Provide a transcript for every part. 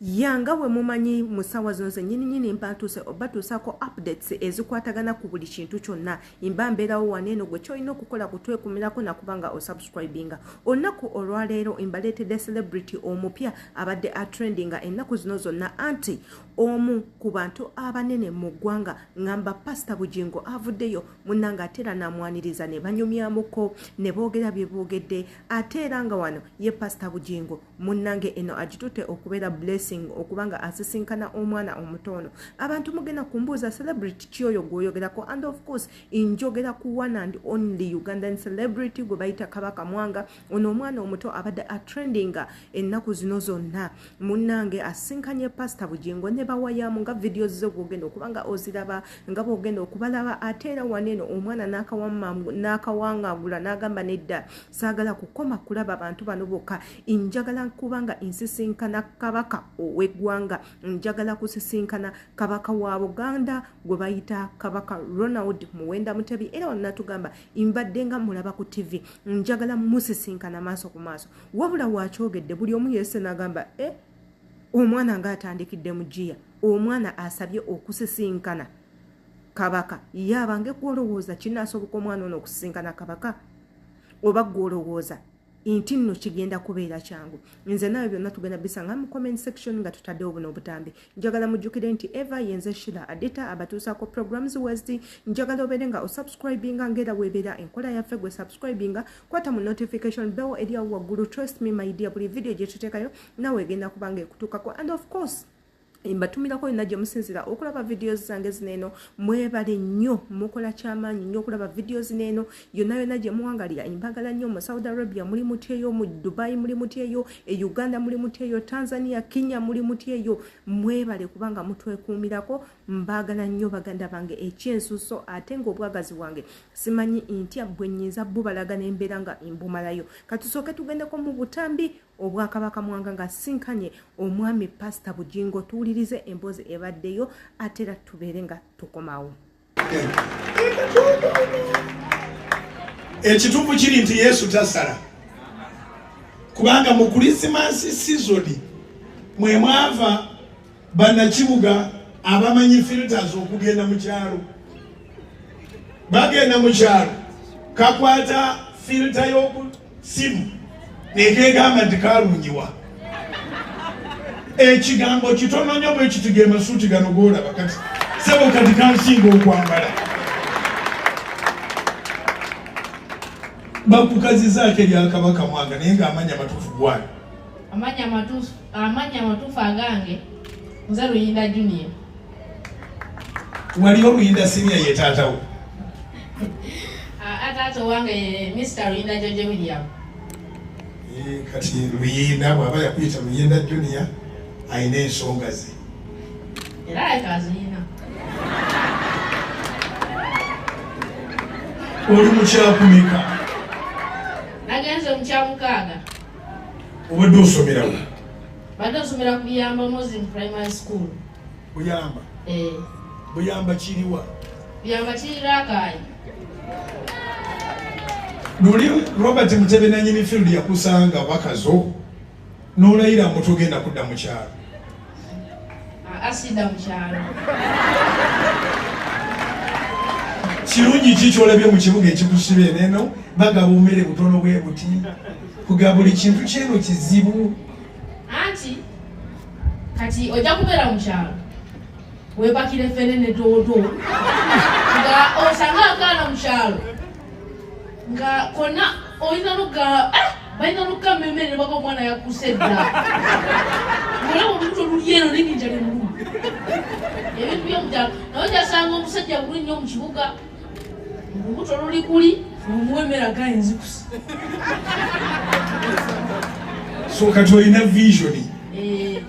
ya nga bwe mumanyi mu ssaawa zino zennyini nyini mba ntuuse oba tuusaako updates ezikwatagana ku buli kintu kyonna mba mbeerawo wano eno gwe kyolina okukola kutwekumirako nakuba nga osubscribinga olunaku olwaleero mbaleetedde celebrity omupya abadde atrendinga ennaku zino zonna anti omu ku bantu abanene mu ggwanga ngamba pasita bugingo avuddeyo munnanga ate era namwaniriza ne banyumyamuko ne boogera bye boogedde ate era nga wano ye pasita bugingo munnange eno agitute okubeera blessing okuba nga asisinkana omwana omuto ono abantu mugenda kumbuuza celebrity kyoyo gwoyogerako and of course njogera ku one and only ugandan celebrity gwe bayita kabaka mwanga ono omwana omuto abadde atrendinga ennaku zino zonna munnange asisinkanye pasita bugingo ne bawayamu nga vidiyo zo gwogenda okuba nga oziraba nga bwogenda okubalaba ate era waneeno omwana n'akawangagula n'agamba nedda saagala kukoma kulaba bantu bano bokka njagala kuba nga nsisinkana kabaka ow'eggwanga njagala kusisinkana kabaka wa buganda gwe bayita kabaka ronald muwenda mutebi era wanatugamba mbadde nga mulaba ku ttivi njagala musisinkana maaso ku maaso wabula waakyogedde buli omu yese nagamba e eh, omwana ngaatandikidde mu giya omwana asabye okusisinkana kabaka yabange kwolowooza kinaasoboka omwana ono okusisinkana kabaka oba gwe olowooza nti nno kigenda kubeera kyangu nze naawe byonna tugenda bisanga mu comment section nga tutaddewo buno obutambi njagala mujjukire nti eva yenze shila adita abatuusaako programs west njagala obeere nga osubscribinga ngaera weebeera enkola yaffe gwe subscribinga kwata mu notification bell eriawo waggulu trust me my dear buli vidiyo gye tuteekayo naawe egenda kubanga ekutuukako and of course mbatumirako yonna gye musinzira okulaba vidiyo zange zino eno mwebale nnyo mukola kyamaanyi nnyo okulaba vidiyo zino eno yonna yonna gye muwangalira mbagala nnyo mu saudi arabia muli mutyeyo mu dubai muli mutyeyo e uganda muli mutyeyo tanzania kenya muli mutyeyo mwebale kubanga mutwekuumirako mbagala nnyo baganda bange ekyensuso ate ngaobwagazi bwange simanyi ntya bwe nyinza bubalaga nembeera nga mbumalayo katusooke tugendeko mu butambi Obwakabaka Mwanga ng'asisinkanye omwami Pasita Bugingo tuwulirize emboozi ebaddeyo ate era tubeere nga tukomawo. Ekituufu kiri nti Yesu tasala kubanga mu Kulisimansi sizoni mwe mwava bannakibuga abamanyi filters okugenda mu kyalo bagenda mu kyalo kakwata filta y'oku simu nekegamba nti kalungiwa ekigambo kitono nyo bwekitiga emasuuti gano golaba kati sebo kati kansinga okwambala bakukazizaako eryakabaka mwanga naye nga amanya matuufu gwani amanya matuufu amannya amatuufu agange nze luyinda junior wali oluyinda sinia ye taatawo ataata owange mr luyinda george william eh, kati luyinda bwaba yakuyita luyinda junior alina ensonga ze era ayekaziina oli mukyakumika nagenze mukyamukaaga obadde osomerawo badde osomera ku biyamba muslim primary school buyamba eh. buyamba kiriwa buyamba kiri rakayi luli robert mutebe nanyini field yakusanga wakazo nolayira mutugenda kudda mukyalo asida mukyalo kirungi ki kyolabye mu kibuga ekikusiba eneno bagaba omere butono bwe buti kuga buli kintu kyeno kizibu anti kati ojja kubeera mu kyalo webakire fene ne doodo nga osanga akaana mu kyalo nga kona olina luga eh, balina luga mmemmere nebaka omwana yakuse dda olaba olubuto oluli eno nebinja nemulumu ebintu byomukyalo naye ojasanga omusajja buli nnyo mu kibuga olubuto oluli kuli omuwa emmere agaye nzikusa so kati olina visioni eh.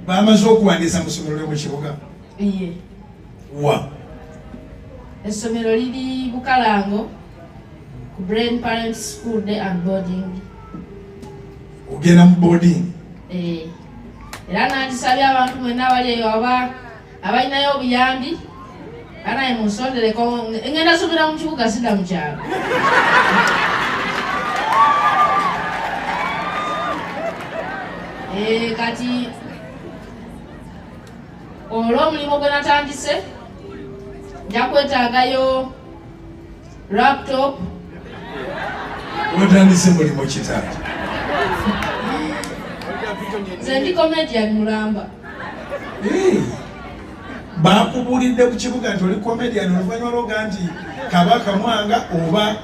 bamaze okuwandiisa musomero lyo mu kibuga wa essomero liri bukalango ku brain parent school day and boarding ogenda mu boarding eh, era nandisabye abantu mwena abali eyo aba abalinayo obuyambi anaye munsondereko ngenda subira mu kibuga sida mu kyalo eh, kati olw'omulimu gwe natandise nja kwetaagayo laptop watandise mulimu kitala nze ndi comedian mulamba bakubuulidde ku kibuga nti oli comedian oluvanyuma lwoga nti kabaka mwanga oba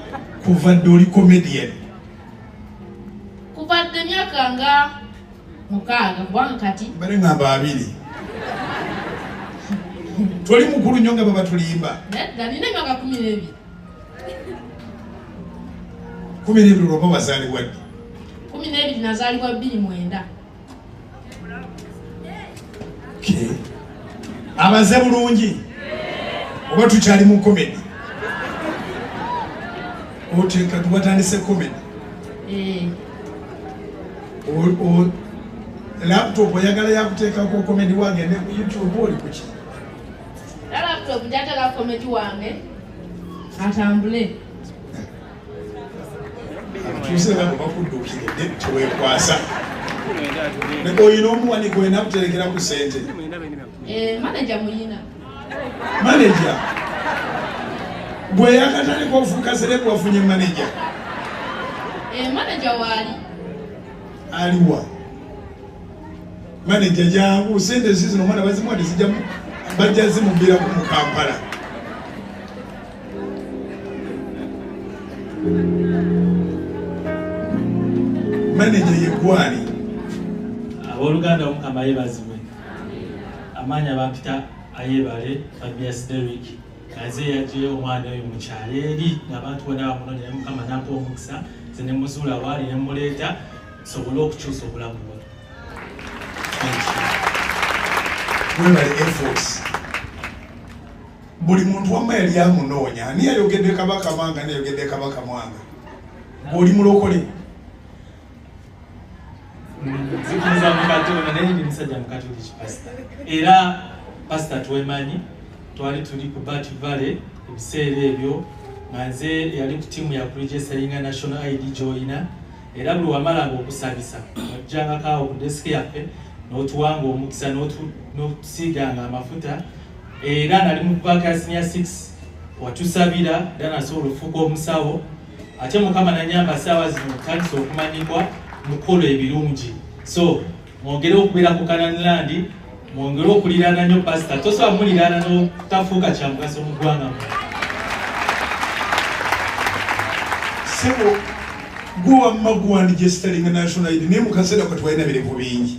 kuva dde oli comedian kuva dde myaka nga mukaaga kubanga kati mbere ngamba abiri toli mukulu nyo nga babatulimba nedda nina emyaka kumi n'ebiri kumi n'ebiri olwoba wazaalibwa ddi kumi n'ebiri nazaalibwa bbiri mwenda okay. abaze bulungi oba tukyali mu komedi oteeka tubatandise komedi eh. laptop oyagala yakuteekako komedi wange ne ku youtube oli kuki laptop njatala komedi wange atambule tusinga kuba kudduukira edde teweekwasa naye olina omuwani gwena kuterekera ku sente eh, maneja muyina maneja gwe yakatandika ofuuka serebu wafunye maneja eh, maneja waali aliwa maneja jangu sente zizino omwana bazimuwa tezijjamu bajja zimubbiraku mu kampala maneja yegwali aboluganda omukama yebazibwe amaanyi abampita ayebale fabias derick aze yajeyo omwana oyo mukyalo eri ngaabantu bona bamunonya naye mukama nampa omukisa ze nemuzuula waali nemuleeta sobole okukyusa obulamu bwe webale efforts buli muntu wamma yali amunoonya ani yayogedde kabaka mwanga nayogedde kabaka mwanga ng'oli mulokole zikiriza mukatolika naye ndi musajja mukatoliki pasita era pasita twemanyi twali tuli ku bat valley ebiseera ebyo nga nze yali ku tiimu ya kuregeseringa national id gyoyina era buli wamalanga okusabisa ojjangakaawo ku desiki yaffe n'otuwanga omukisa n'otusiiganga amafuta era nali mu paaka ya senior 6 watusabira era nasobola okufuuka omusawo ate mukama nanyamba saawa zino tandisa okumanyibwa mukola ebirungi so mwongere okubeera ku kananlandi mwongere okuliraana nyo pasita tosobola muliraana notafuuka kyamugaso mu ggwanga mu sebo gwe wamma guwandijesitalinga national id naye mu kaseera katwalina birivu bingi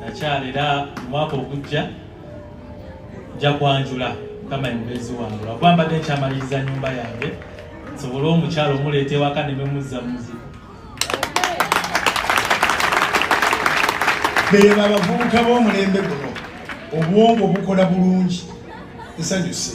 nakyala era omwaka ogujja nja kwanjula kama mubeezi wange lwakuba mbadde nkyamaliriza nyumba yange nsobole omukyalo omuleeta ewaka ne memuzza muzi beeba abavubuka b'omulembe guno obwongo bukola bulungi nsanyuse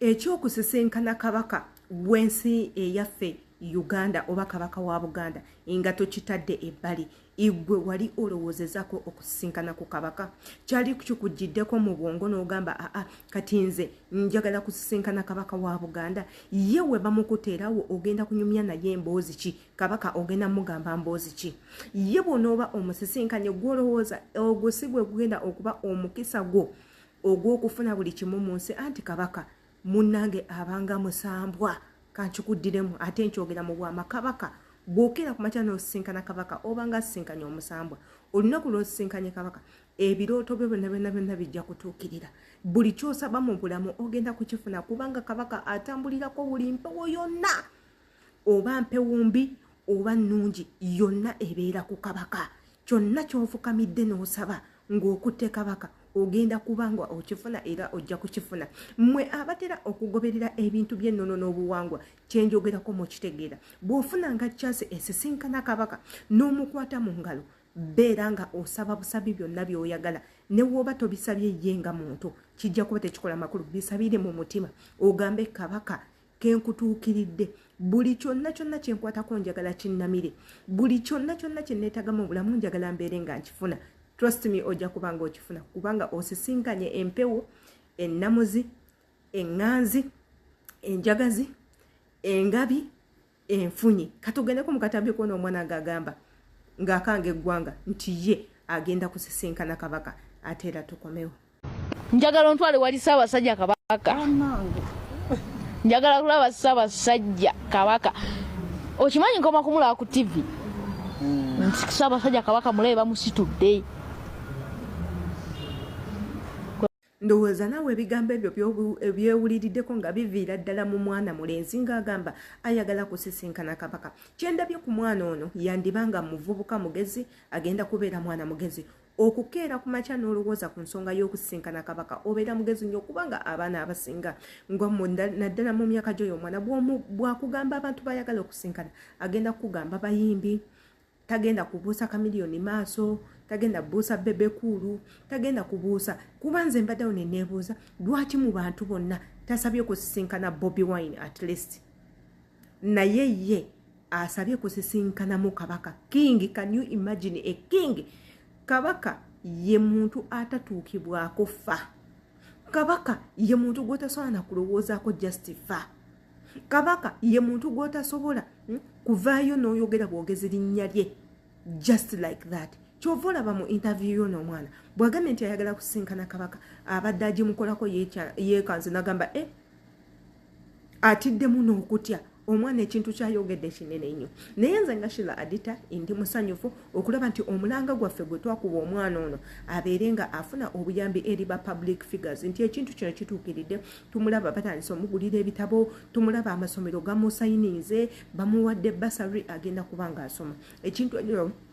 ekyokusisinkana kabaka w'ensi eyaffe uganda oba kabaka wa buganda nga tokitadde ebbali igwe wali olowoozezako okusisinkana ku kabaka kyali kikujiddeko mu bwongo n'ogamba aa kati nze njagala kusisinkana kabaka wa buganda ye we bamukuteerawo ogenda kunyumya naye emboozi ki kabaka ogenda mugamba mboozi ki ye bwonooba omusisinkanye gwolowooza ogwo si gwe gugenda okuba omukisa gwo ogw'okufuna buli kimu mu nsi anti kabaka munnange abanga musambwa kankikuddiremu ate nkyogera mu bwama kabaka bw'okeera ku makya n'osisinkana kabaka obanga asisinkanye omusambwa olunaku lw'osisinkanye kabaka ebirooto byo byonna byonna byonna bijja kutuukirira buli ky'osaba mu bulamu ogenda kukifuna kubanga kabaka atambulirako buli mpewo yonna oba mpewumbi oba nnungi yonna ebeera ku kabaka kyonna kyofukamidde n'osaba ng'okutte kabaka ogenda kuba nga okifuna era ojja kukifuna mmwe abatera okugoberera ebintu by'ennono n'obuwangwa kyenjogerako mu kitegeera bw'ofunanga kyase esisinkana kabaka n'omukwata mu ngalo beera nga osaba busabi byonna by'oyagala ne wooba tobisabye ye nga muntu kijja kuba tekikola makulu bisabire mu mutima ogambe kabaka kenkutuukiridde buli kyonna kyonna kyenkwatako njagala kinnamire buli kyonna kyonna kyenneetagamu obulamu njagala mbeere nga nkifuna trust me ojja kuba nga okifuna kubanga osisinkanye empewo ennamuzi eŋŋanzi enjagazi engabi enfunyi katugendeko mu katambi kona omwana nga agamba ng'akanga eggwanga nti ye agenda kusisinkana kabaka ate era tukomewo njagala ontwale wali ssaabasajja kabaka njagala kulaba ssaabasajja kabaka okimanyi nkoma kumulaba ku tivi hmm. ssaabasajja kabaka mulabe bamusitudde ndowooza naawe ebigambo ebyo byewuliriddeko nga biviira ddala mu mwana mulenzi ng'agamba ayagala kusisinkana kabaka kyendabye ku mwana ono yandibanga muvubuka mugezi agenda kubeera mwana mugezi okukeera ku makya n'olowooza ku nsonga y'okusisinkana kabaka obeera mugezi nnyo kubanga abaana abasinga naddala mu myaka gyoyo omwana bwakugamba abantu bayagala okusinkana agenda kukugamba bayimbi tagenda kubuusa kamiliyoni maaso tagenda kubuusa bebekuulu tagenda kubuusa kuba nze mbaddewo neneebuuza lwaki mu bantu bonna tasabye okusisinkana bobi wine at least naye ye asabye kusisinkanamu kabaka king can you imagine a king kabaka ye muntu atatuukibwako fa kabaka ye muntu gwotasobola nakulowoozaako just fa kabaka ye muntu gwotasobola hmm, kuvaayo noyogera bwogezi linnya lye just like that kyova olaba mu interview yo nomwana bwagambye nti ayagala kusinkana kabaka abadde agimukolako yekanze nagamba e eh, atiddemu n'okutya omwana ekintu kyayogedde kinene nnyo naye nze nga shila adita ndi musanyufu okulaba nti omulanga gwaffe gwe twakuba omwana ono abeere nga afuna obuyambi eri ba public figures nti ekintu kino kituukiridde tumulaba batandise omugulira ebitabo tumulaba amasomero gamusayininze bamuwadde basary agenda kuba nga asoma ekintu ekyo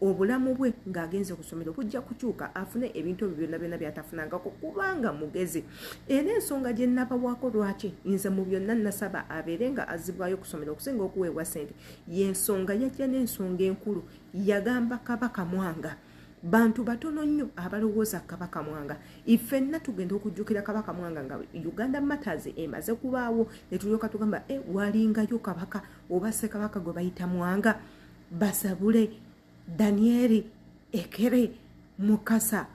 obulamu bwe ng'agenze ku ssomero bujja kukyuka afune ebintu ebyo byonna byonna byatafunangako kubanga mugezi era ensonga gye nnabawaako lwaki nze mu byonna nasaba abeere nga azibwayo ku ssomero okusinga okuweebwa ssente y'ensonga yajja n'ensonga enkulu yagamba kabaka mwanga bantu batono nnyo abalowooza kabaka mwanga ifenna tugenda okujjukira kabaka mwanga nga uganda matters emaze kubaawo netulyoka tugamba e eh, walingayo kabaka oba sekabaka gwe bayita mwanga basabule danieri ekere mukasa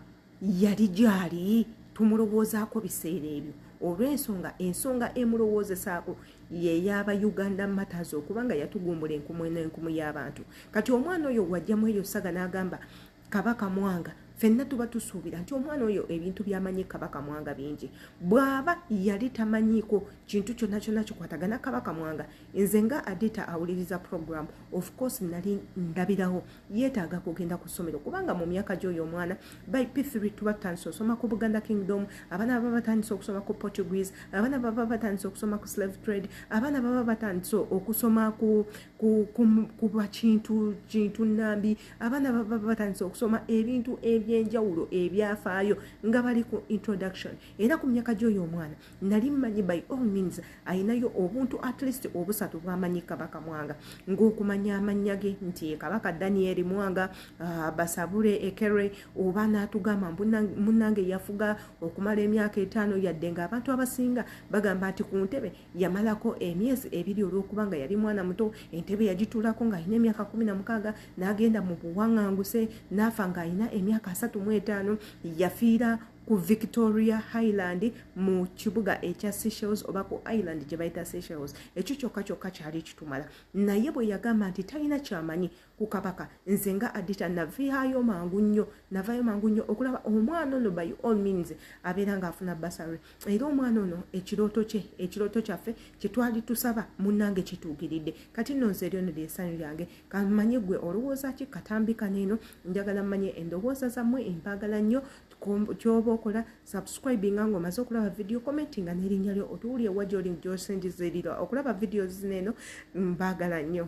yali gyali tumulowoozaako biseera ebyo olw'ensonga ensonga emulowoozesaako yeyaba uganda matters okubanga yatugumbula enkumu n'enkumu y'abantu kati omwana oyo wajjamu eyo saga n'agamba kabaka mwanga fenna tuba tusuubira nti omwana oyo ebintu byamanyi kabaka mwanga bingi bwaba yali tamanyiiko kintu kyonna kyonna kikwatagana kabaka mwanga nze nga adita awuliriza program of course nali ndabirawo yeetaaga kugenda ku ssomero kubanga mu myaka gy'oyo omwana by p3 tuba tutandise okusoma ku buganda kingdom abaana baba batandise okusoma ku portuguese abaana baba batandise okusoma ku slave trade abaana baba batandise okusoma ku bakintu kintu nambi abaana baba batandise okusoma ebintu ebyenjawulo ebyafaayo nga bali ku introduction era ku myaka gyoyo omwana nali mmanyi by all means alinayo obuntu at least obusatu bwamanyi kabaka mwanga ngaokumanya amannya ge nti kabaka danieli mwanga uh, basabule ekere oba natugamba munange yafuga okumala emyaka etaano yadde nga abantu abasinga bagamba nti ku ntebe yamalako emyezi ebiri olwokuba nga yali mwana muto entebe yagituulako ng'alina emyaka kumi na mukaaga n'agenda mu buwanganguse n'afa ng'alina emyaka asatu mu etaano yafiira ku victoria highland mu kibuga ekya seychelles oba ku island gye bayita seychelles ekyo kyokka kyokka kyali kitumala naye bwe yagamba nti talina kyamanyi ku kabaka nze nga adita navaayo mangu nnyo navaayo mangu nnyo okulaba omwana ono by all means abeera ngaafuna basary era omwana ono ekirooto kye ekirooto kyaffe kyetwali tusaba munnange kituukiridde kati nno nze eryono lyesanyu lyange kamanye gwe olowooza ki katambika neeno njagala mmanye endowooza zammwe empaagala nnyo kyoba okola subscribinga nga omaze okulaba video commentinga n'erinnya lyo otuwulye wa gyoli gyosinjizirira okulaba video zineeno mbaagala nnyo